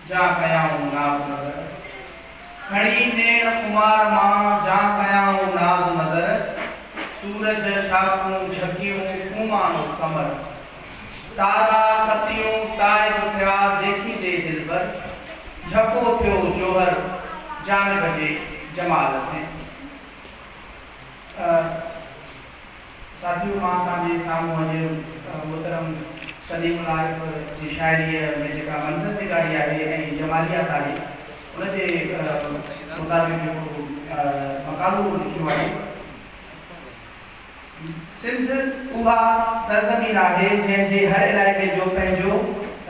جا ڪيائون ناز نظر کڻي نيڻ خمار مان جا ڪيائون ناز نظر سورج شاخون جهڪيون ڦوماڻو قمر تارا ڪتيون تائب ٿيا ديکيندي دلبر جهڪو ٿيو جوهر جانب جي جمال سين. ساٿيو مان توهان جي سامهون اڄ محترم سليم العارف جي شاعريء ۾ جيڪا منظر نگاري آهي ۽ جماليات آهي ان جي مطابق هڪڙو مقالو لکيو آهي. سنڌ اها سرزمين آهي جنهن جي هر علائقي جو پنهنجو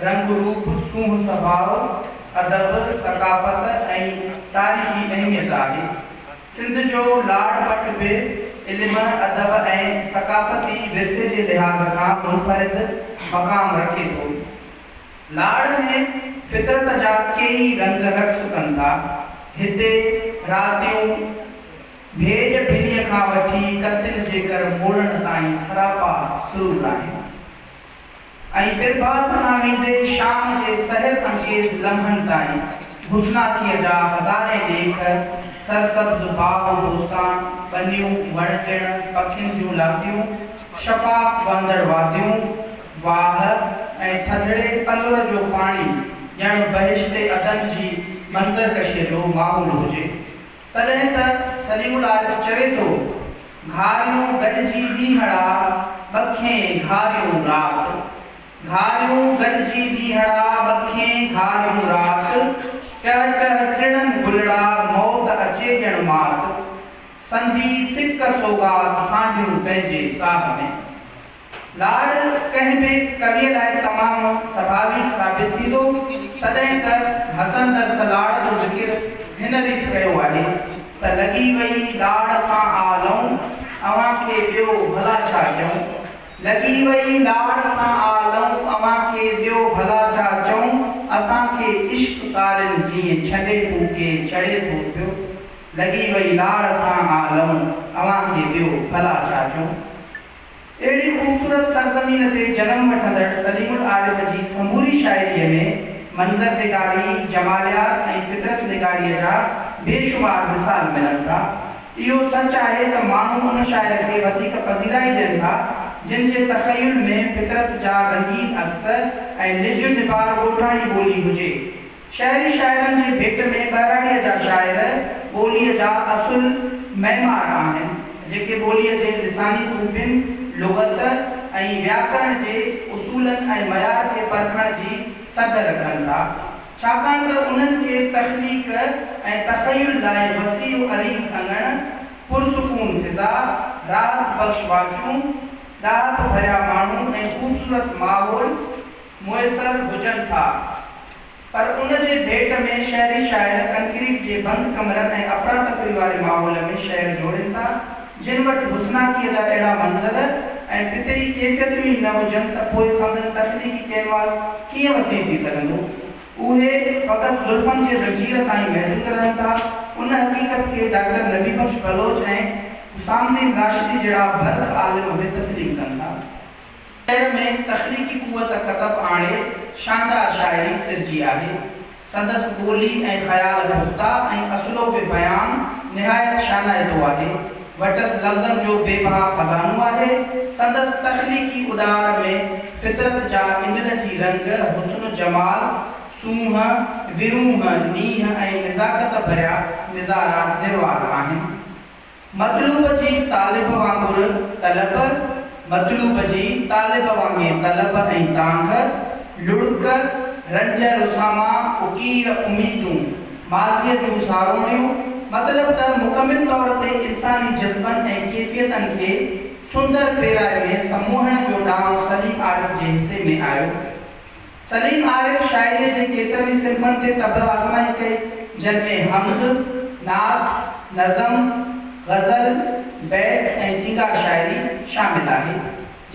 رنگ روپ، سونهن سڀاء، ادب، ثقافت ۽ تاريخي اهميت آهي. سنڌ جو لاڙ مٽ به علم، ادب ۽ ثقافتي ورثي جي لحاظ کان منفرد مقام رکي ٿو. لاڙ ۾ فطرت جا ڪيئي رنگ رقص ڪن ٿا. هتي راتيون ڀيڄ ڀنيء کان وٺي ڪتن جيڪر موڙڻ تائين سراپا سرور آهن. ۽ پرڀات کان ويندي شام جي سحر انگيز لمحن تائين بوسناڪيء جا هزارين ڏيک، سرسبز باغ و بوستان، ٻنيون، وڻ ٽڻ، پکين جون لاتيون، شفاف وهندڙ واديون، واهه ۽ ٿڌڙي تنور جو پاڻي ڄڻ بهشت عدن جي منظر ڪشيء جو ماحول هجي. تڏهن ته سليم العارف چوي ٿو، گهاريون گڏجي ڏينهڙا، ٻکين گهاريون رات. گهاريون گڏجي ڏينهڙا، ٻکين گهاريون رات. ٽه ٽه ٽڙن گلڙا، موت اچي ڄڻ مات. سندي سڪ سوغات، سانڍيون پنهنجي ساهه ۾. لاڙ ڪنهن به ڪويء لاء تمام سڀاوي ثابت ٿيندو، تڏهن ته حسن درس لاڙ جو ذڪر هن ريت ڪيو آهي ته لڳي وئي لاڙ سان آ لئون، اوهان کي ڏيو ڀلا ڇا ڪيون؟ لڳي وئي لاڙ سان آ لئون، اوهان کي ڏيو ڀلا ڇا چئون؟ اسان کي عشق سارين جيئن ڇنڊي ڦوڪي ڇڙي ٿو پيو، لڳي وئي لاڙ سان آ لئون، اوهان کي ڏيو ڀلا ڇا چئون؟ اهڙي خوبصورت سرزمين تي جنم وٺندڙ سليم العارف جي سموري شاعريء ۾ منظر نگاري، جماليات ۽ فطرت نگاريء جا بي شمار مثال ملن ٿا. اهو سچ آهي ته ماڻهو ان شاعر کي وڌيڪ پذيرائي ڏين ٿا، جن جي تخيل ۾ فطرت جا رنگين عڪس ۽ نج نبار ڳوٺاڻي ٻولي هجي. شهري شاعرن جي ڀيٽ ۾ ٻهراڙيء جا شاعر ٻوليء جا اصل معمار آهن، جيڪي ٻوليء جي لساني خوبين، لغت ۽ وياڪرڻ جي اصولن ۽ معيار کي پرکڻ جي سگهه رکن ٿا، ڇاڪاڻ ته انهن کي تخليق ۽ تخيل لاء وسيع و عريض اڱڻ، پرسڪون فضا، راحت بخش واچون، ڏاهپ ڀريا ماڻهو ۽ خوبصورت ماحول، ميسر هجن ٿا پر ان جي ڀيٽ ۾ شهري شاعر ڪنڪريٽ جي بند ڪمرن ۽ افراتفري واري ماحول ۾ شعر جوڙين ٿا جن وٽ حسناڪيء جا اهڙا منظر ۽ فطري ڪيفيتون ئي نه هجن ته پوء سندن تخليقي ڪينواس ڪيئن وسيع ٿي سگهندو؟ اهي فقط زلفن جي زنجير تائين محدود رهن ٿا ان حقيقت کي ڊاڪٽر نبي بخش بلوچ ۽ حسام الدين راشدي جهڙا برک عالم به تسليم ڪن ٿا. شعر ۾ تخليقي قوت ڪتب آڻي شاندار شاعري سرجي آهي. سندس ٻولي ۽ خيال پختا ۽ اسلوب بيان نهايت شانائتو آهي. وٽس لفظن جو بي بها خزانو آهي. سندس تخليقي اڏار ۾ فطرت جا انڊلٺي رنگ، حسن، جمال، سونهن، ورونهه، نينهن ۽ نزاڪت ڀريا نظارا نروار آهن. مطلوب جي طالب وانگر طلب، مطلوب جي طالب وانگي طلب ۽ تانگهه، لڙڪ، رنج رساما، اڪير، اميدون، ماضيء جون ساروڻيون، مطلب ته مڪمل طور تي انساني جذبن ۽ ڪيفيتن کي سندر پيرائي ۾ سموهڻ جو ڏانء سليم عارف جي حصي ۾ آيو. سليم عارف شاعريء جي ڪيترن ئي صنفن تي طبع آزمائي ڪئي، جن ۾ حمد، نعت، نظم، غزل، بيت ۽ سينگار شاعري شامل آهي،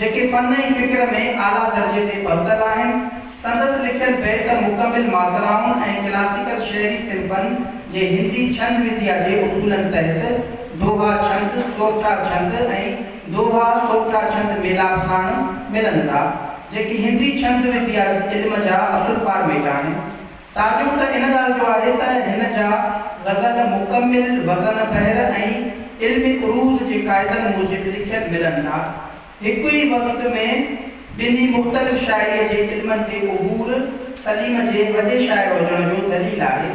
جيڪي فن ۽ فڪر ۾ اعليٰ درجي تي پهتل آهن. سندس لکيل بيت مڪمل ماترائن ۽ ڪلاسيڪل شعري صنفن جي هندي ڇند وڌيا جي اصولن تحت دوها ڇند، سورٺا ڇند ۽ دوها سوٽرا ڇند ميلاپ ساڻ ملن ٿا، جيڪي هندي ڇند وديا جي علم جا اصل فارميٽ آهن. تعجب ته ان ڳالهه جو آهي ته هن جا غزل مڪمل وزن بحر ۽ علم عروض جي قاعدن موجب لکيل ملن ٿا. هڪ ئي وقت ۾ ٻنهي مختلف شاعريء جي علمن تي عبور سليم جي وڏي شاعر هجڻ جو دليل آهي.